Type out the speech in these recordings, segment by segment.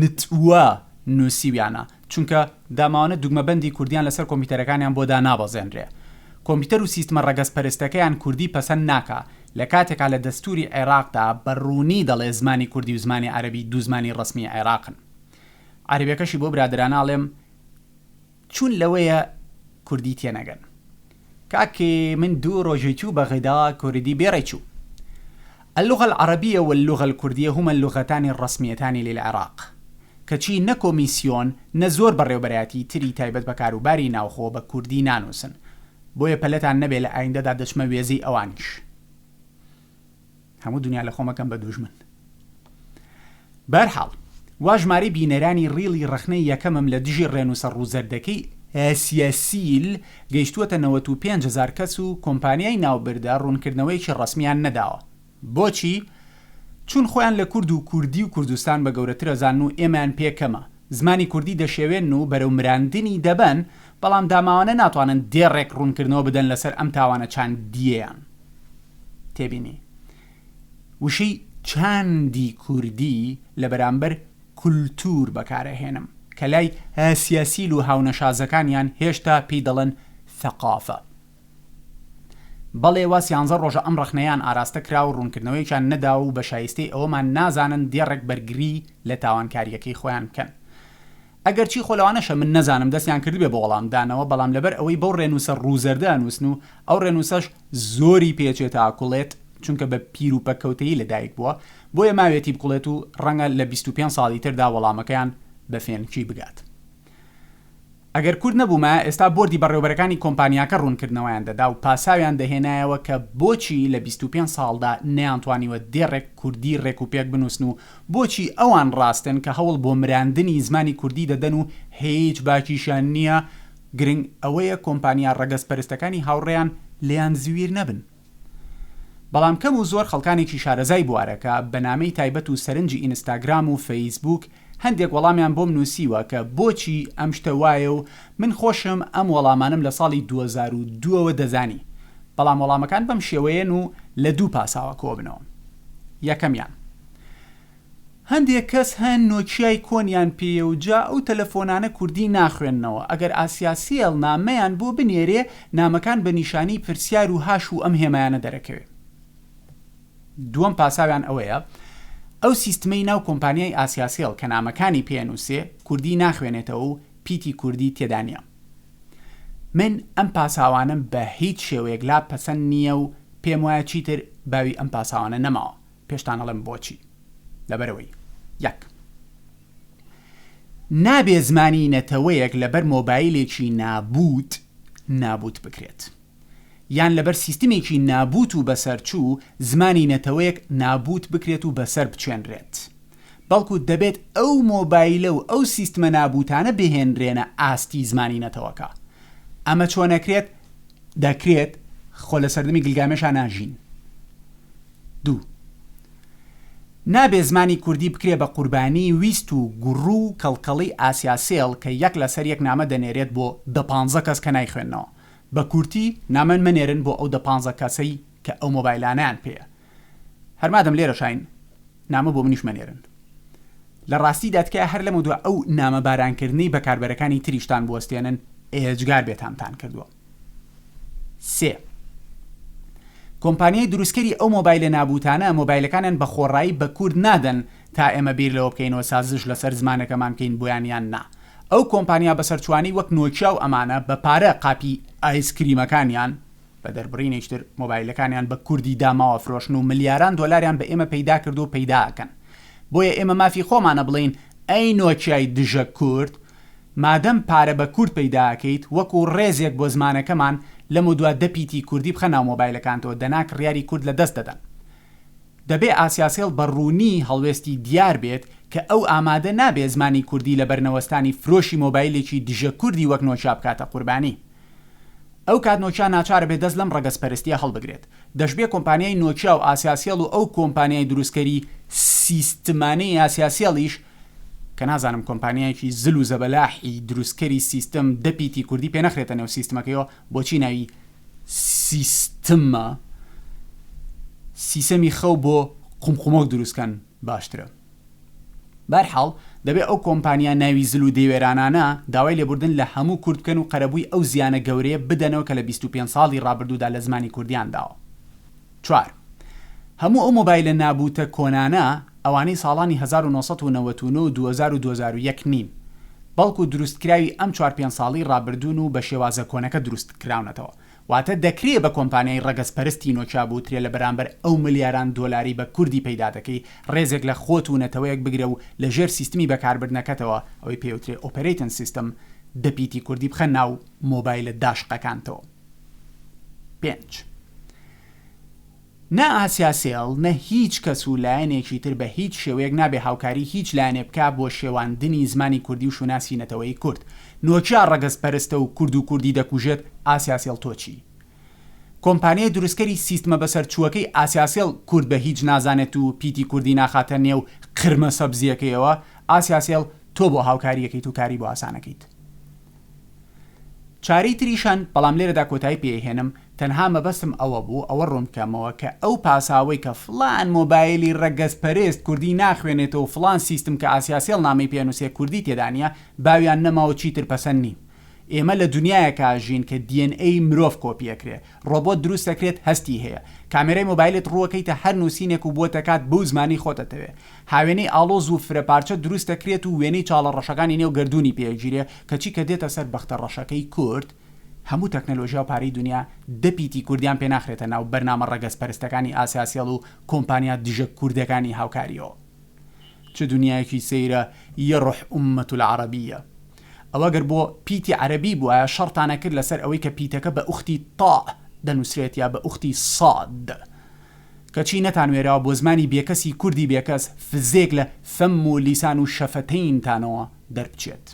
نتوە نوسیویانە چونکە داماوانە دوگمە بەندی کوردیان لەسەر کۆمپیوتەرەکانیان بۆ دانابەزێنرێ کۆمپیوتەر و سیستمە ڕەگەز پەرستەکەیان کوردی پەسەند ناکا لەکاتێکا لە دەستوری عێراقدا بە ڕوونی دەڵێ زمانی کوردی و زمانی عەرەبی دوو زمانی ڕەسمی عێراقن عەرەبەکەشی بۆ برادەرانە ئەڵێم چون لەوەیە کوردی تێنەگەن. کاک من دوو رۆژی چوو بەغدا کوردی بێڕێ چوو اللغە العربیە واللغە الکردیە هما اللغتان الرسمیتان للعراق کەچی نە کۆمیسیۆن نە زۆر بەڕێوبەرایەتی تری تایبەت بە کاروباری ناوخۆ بە کوردی نانوسن بۆیە پەلەتان نەبێ لە ئایندەدا دەچمە وێزەی ئەوانیش. هەموو دنیا لە خۆمەکەم بە دوژمن بەرحاڵ وا ژمارەی بینەرانی ڕیڵی ڕخنەی یەکەمم لە دژی ڕێنووسە ڕووزەردەکەی ئەسیەسیل گەیشتووەتە 95هزار کەس و کۆمپانیای ناوبردە ڕوونکردنەوەیەکی ڕسمیان نەداوە بۆچی چون خۆیان لە کورد و کوردی و کوردستان بە گەورەترەزان و ئێمەیان پێ کەمە زمانی کوردی دەشێوێن و بەرەو مراندنی دەبەن بەڵام داماوانە ناتوانن دێڕێک ڕوونکردنەوە بدەن لەسەر ئەم تاوانە چاندیەیان تێبینی، وشەی چاندی کوردی لە بەرامبەر کولتوور بەکار ئەهێنم، کە لای هاسیاسیل و هاونەشازەکانیان هێشتا پێی دەڵێن ثەقافە. بەڵێ وا سیانزە ڕۆژە ئەم ڕەخنەیان ئاراستە کرا و ڕوونکردنەوەیەکیان نەداوە و بە شایستەی ئەوەمان نازانن دێڕێک بەرگری لە تاوانکارییەکەی خۆیان بکەن. ئەگەرچی خۆ لەوانەشە من نەزانم دەستیان کردبێ بە وەڵام دانەوە، بەڵام لەبەر ئەوەی بەو ڕێنووسە ڕوو زەردە ئەنووسن و ئەو ڕێنووسەش زۆری پێ چێتە ئاکوڵێت، چونکە بە پیر و پەککەوتەیی لە دایک بووە، بۆیە ماوێتی بکوڵێت و ڕەنگە لە بیست و پێنج ساڵی تردا وەڵامەکەیان بە فێنکی بگات. ئەگەر کورد نەبوومایە ئێستا بۆردی بەڕێوەبەرەکانی کۆمپانیاکە ڕوونکردنەوەیان دەدا و پاساویان دەهێنایەوە کە بۆچی لە بیست و پێنج ساڵدا نەیانتوانیوە دێڕێک کوردی ڕێک و پێک بنووسن و بۆچی ئەوان ڕاستن کە هەوڵ بۆ مراندنی زمانی کوردی دەدەن و هیچ باکیشیان نییە، گرنگ ئەوەیە کۆمپانیا ڕەگەزپەرستەکانی هاوڕێیان لێیان زویر نەبن. بەڵام کەم و زۆر خەڵکانێکی شارەزای بوارەکە بە نامەی تایبەت و سەرنجی ئینستاگرام و فەیسبووک هەندێک وەڵامیان بۆم نووسیوە کە بۆچی ئەم شتە وایە و من خۆشم ئەم وەڵامانەم لە ساڵی دوو هەزار و دوو ەوە دەزانی، بەڵام وەڵامەکان بەم شێوەیەن و لە دوو پاساوە کۆبنەوە. یەکەمیان. هەندێک کەس هەن نۆکیای کۆنیان پێیە و جا ئەو تەلەفۆنانە کوردی ناخوێننەوە، ئەگەر ئاسیاسێڵ نامەیان بۆ بنێرێ، نامەکان بە نیشانەی پرسیار و هاش و ئەم هێمایانە دەرەکەوێ. دووەم پاساویان ئەوەیە ئەو سیستمەی ناو کۆمپانیای ئاسیاسێڵ کە نامەکانی پێ ئەنووسێ، کوردی ناخوێنێتەوە و پیتی کوردی تێدا نیە من ئەم پاساوانەم بە هیچ شێوەیەک لا پەسەند نیە و پێم وایە چیتر باوی ئەم پاساوانە نەماوە پێشتان ئەڵێم بۆچی لەبەرەوەی یەک نابێ زمانی نەتەوەیەک لەبەر مۆبایلێکی نابووت نابووت بکرێت. یان لەبەر سیستمێکی نابووت و بەسەرچوو زمانی نەتەوەیەک نابووت بکرێت و بەسەر بچێنرێت بەڵکو دەبێت ئەو مۆبایلە و ئەو سیستمە نابووتانە بهێنرێنە ئاستی زمانی نەتەوەکە ئەمە چۆن ئەکرێت دەکرێت خۆ لە سەردەمی گلگامێشا ناژین دوو نابێ زمانی کوردی بکرێ بە قوربانی ویست و گوڕ و کەڵکەڵی ئاسیاسێڵ کە یەک لەسەر یەک نامە دەنێرێت بۆ دە پانزە کەس کە نایخوێنەوە بە کورتی نامەن مەنێرن بۆ ئەو دە پانزە کەسەی کە ئەو مۆبایلانەیان پێیە هەر مادەم لێرەشاین نامە بۆ منیش مەنێرن لە ڕاستیدا تکایە هەر لەمە دوا ئەو نامە باران کردنەی بەکاربەرەکانی تریشتان بوەستێنن ئێجگار بێتامتان کردوە سێ کۆمپانیای دروستکەری ئەو مۆبایلە نابوتانە مۆبایلەکانیان بە خۆڕایی بە کورد نادەن تا ئێمە بیر لەوە بکەینەوە سازش لەسەر زمانەکەمان بکەین بۆیان یان نا ئەو کۆمپانیا بەسەرچووانی وەک نۆکیا و ئەمانە بە پارە قاپی ئایس کریمەکانیان بە دەربڕینێکی تر مۆبایلەکانیان بە کوردی داماوە فرۆشن و ملیاران دۆلاریان بە ئێمە پەیدا کردووە و پەیدا ئەکەن بۆیە ئێمە مافی خۆمانە بڵێین ئەی نۆکیای دژە کورد مادەم پارە بە کورد پەیدا ئەکەیت وەکو ڕێزێک بۆ زمانەکەمان لەمەودوا دە پیتی کوردی بخە ناو مۆبایلەکانتەوە دەنا کڕیاری کورد لە دەست دەدەن دەبێ ئاسیاسێڵ بە ڕوونی هەڵوێستی دیار بێت کە ئەو ئامادە نابێ زمانی کوردی لە بەرنەوەستانی فرۆشی مۆبایلێکی دژە کوردی وەک نۆکیا بکاتە قوربانی. ئەو کات نۆکیا ناچار ئەبێ دەست لەم ڕەگەزپەرستییە هەڵبگرێت. دەشبێ کۆمپانیای نۆکیا و ئاسیاسێڵ و ئەو کۆمپانیای دروستکەری سیستمانەی ئاسیاسێڵیش، کە نازانم کۆمپانیایەکی زل و زەبەلاحی دروستکەری سیستم دە پیتی کوردی پێ نەخرێتە نێو سیستمەکەیەوە، بۆچی ناوی، سیستمە سیسەمی خەو بۆ قومقومۆک دروستکەن باشترە بەرحاڵ دەبێ ئەو کۆمپانیا ناوی زل و دەیوێرانانە داوای لێبوردن لە هەموو کورد بکەن و قەرەبووی ئەو زیانە گەورەیە بدەنەوە کە لە بیست و پێنج ساڵی ڕابردوودا لە زمانی کوردیان داوە. چوار. هەموو ئەو مۆبایلە نابووتە کۆنانە ئەوانەی ساڵانی هەزار و نۆ سەد و نەوەد و نۆ و دووەزار و دووەزار و یەک نین بەڵکو دروستکراوی ئەم چوار پێنج ساڵی ڕابردوون و بە شێوازە کۆنەکە دروستکراونەتەوە واتە دەکرێ بە کۆمپانیای ڕەگەز پەرستی نۆکیا بوترێ لە بەرامبەر ئەو ملیاران دۆلاری بە کوردی پەیدا دەکەی ڕێزێک لە خۆت و نەتەوەیەک بگرە و لە ژێر سیستمی بەکاربردنەکەتەوە ئەوەی پێوترێ ئۆپەرەیتن سیستم دە پیتی کوردی بخە ناو مۆبایلە داشقەکانتەوە. پێنج. نە ئاسیاسێڵ نە هیچ کەس و لایەنێکی تر بە هیچ شێوەیەک نابێ هاوکاری هیچ لایەنێ بکا بۆ شێواندنی زمانی کوردی و شوناسی نەتەوەیی کورد. نۆکیا ڕەگەز پەرستە و کورد و کوردی دەکوژێت ئاسیاسێڵ تۆ چی؟ کۆمپانیای دروستکەری سیستمە بەسەرچووەکەی ئاسیاسێڵ کورد بە هیچ نازانێت و پیتی کوردی ناخاتە نێو قرمە سەبزییەکەیەوە ئاسیاسێڵ تۆ بۆ هاوکارییەکەیت و کاری بۆ ئاسانەکەیت؟ چارەی تریشان، بەڵام لێرەدا کۆتایی پێهێنم، تەنها مەبەستم ئەوە بوو ئەوە ڕوونبکەمەوە کە ئەو پاساوەی کە فڵان مۆبایلی ڕەگەزپەرێست کوردی ناخوێنێتەوە و فڵان سیستم کە ئاسیاسێڵ نامەی پێنووسێ کوردی تێدا نیە باویان نەماوە چیتر پەسەند نیم ئێمە لە دونیایەکا ژین کە DNA مرۆڤ کۆپیەکرێ ڕۆبۆت دروست دەکرێت هەستی هەیە کامێرای مۆبایلت ڕووەکەیتە هەر نووسینێک و بۆتەکات بەو زمانەی خۆت ئەتەوێ هاوێنەی ئاڵۆز و فرە پارچە دروست دەکرێت و وێنەی چاڵە ڕەشەکانی نێو گەردوونی پێ ئەگیرێ کەچی کە دێتە سەر بەختە ڕەشەکەی کورد هەموو تەکنەلۆژیا و پارەی دونیا دە پیتی کوردیان پێ ناخرێتە ناو بەرنامە ڕەگەز پەرستەکانی ئاسیاسێڵ و کۆمپانیا دژە کوردەکانی هاوکاریەوە. چ دنیایەکی سەیرە یەڕح ئوممەت العربیە. ئەوە گەر بۆ پیتی عەرەبی بوایە شەڕتان ئەکرد لەسەر ئەوەی کە پیتەکە بە ئوختی طاء دەنوسرێت یا بە ئوختی صاد. کەچی نەتانوێراوە بۆ زمانی بێکەسی کوردی بێکەس فزێک لە فم و لیسان و شەفەتەینتانەوە دەربچێت.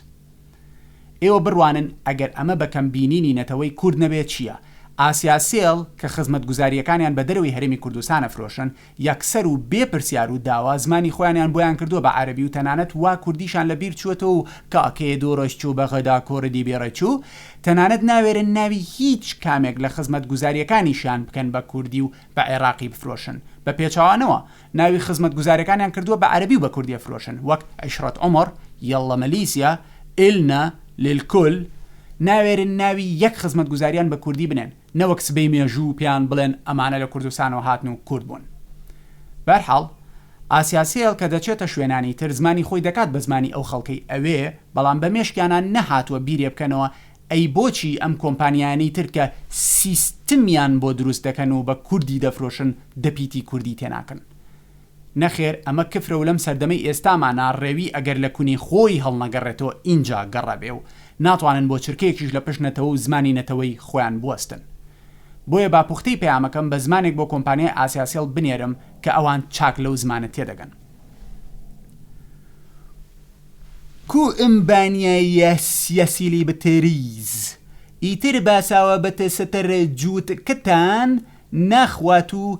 ئێوە بڕوانن ئەگەر ئەمە بە کەم بینینی نەتەوەی کورد نەبێت چیە؟ ئاسیاسێڵ کە خزمەتگوزاریەکانیان بە دەرەوەی هەرێمی کوردستان ئەفرۆشن یەکسەر و بێ پرسیار و داوا زمانی خۆیانیان بۆیان کردووە بە عەرەبی و تەنانەت وا کوردیشان لە بیر چووەتەوە و کاکێ دۆڕش چوو بە غەدا کۆردی بێڕێ چوو تەنانەت ناوێرن ناوی هیچ کامێک لە خزمەتگوزارییەکانیشیان بکەن بە کوردی و بە عێڕاقی بفرۆشن بە پێچەوانەوە ناوی خزمەتگوزاریەکانیان کردووە بە عەرەبی و بە کوردی ئەفرۆشن وەک عیشرەت عومەڕ یەڵڵە مەلیسیا ئیلنا للکل ناوێرن ناوی یەک خزمەتگوزاریان بە کوردی بنێن. نەوەک سبەی مێژوو پێیان بڵێن ئەمانە لە کوردستانەوە هاتن و کورد بوون. بەرحاڵ، ئاسیاسێڵ کە دەچێتە شوێنانی تر زمانی خۆی دەکات بە زمانی ئەو خەڵکەی ئەوێ، بەڵام بە مێشکیانا نەهاتووە بیرێ بکەنەوە ئەی بۆچی ئەم کۆمپانیایانەی تر کە سیستمیان بۆ دروست دەکەن و بە کوردی دەفرۆشن دەپیتی کوردی تێناکەن؟ نەخێر ئەمە کفرە و لەم سەردەمەی ئێستامانا ڕێوی ئەگەر لە کونی خۆی هەڵنەگەڕێتەوە ئینجا گەڕەبێ و ناتوانن بۆ چرکەیەکیش لە پشت نەتەوە و زمانی نەتەوەی خۆیان بوەستن بۆیە با پوختەی پەیامەکەم بە زمانێک بۆ کۆمپانیای ئاسیاسێڵ بنێرم کە ئەوان چاک لەو زمانە تێدەگەن. کومبانیایە سیاسیلی بتریز ئیتر باساوە بتستر جووتکتان ناخوات و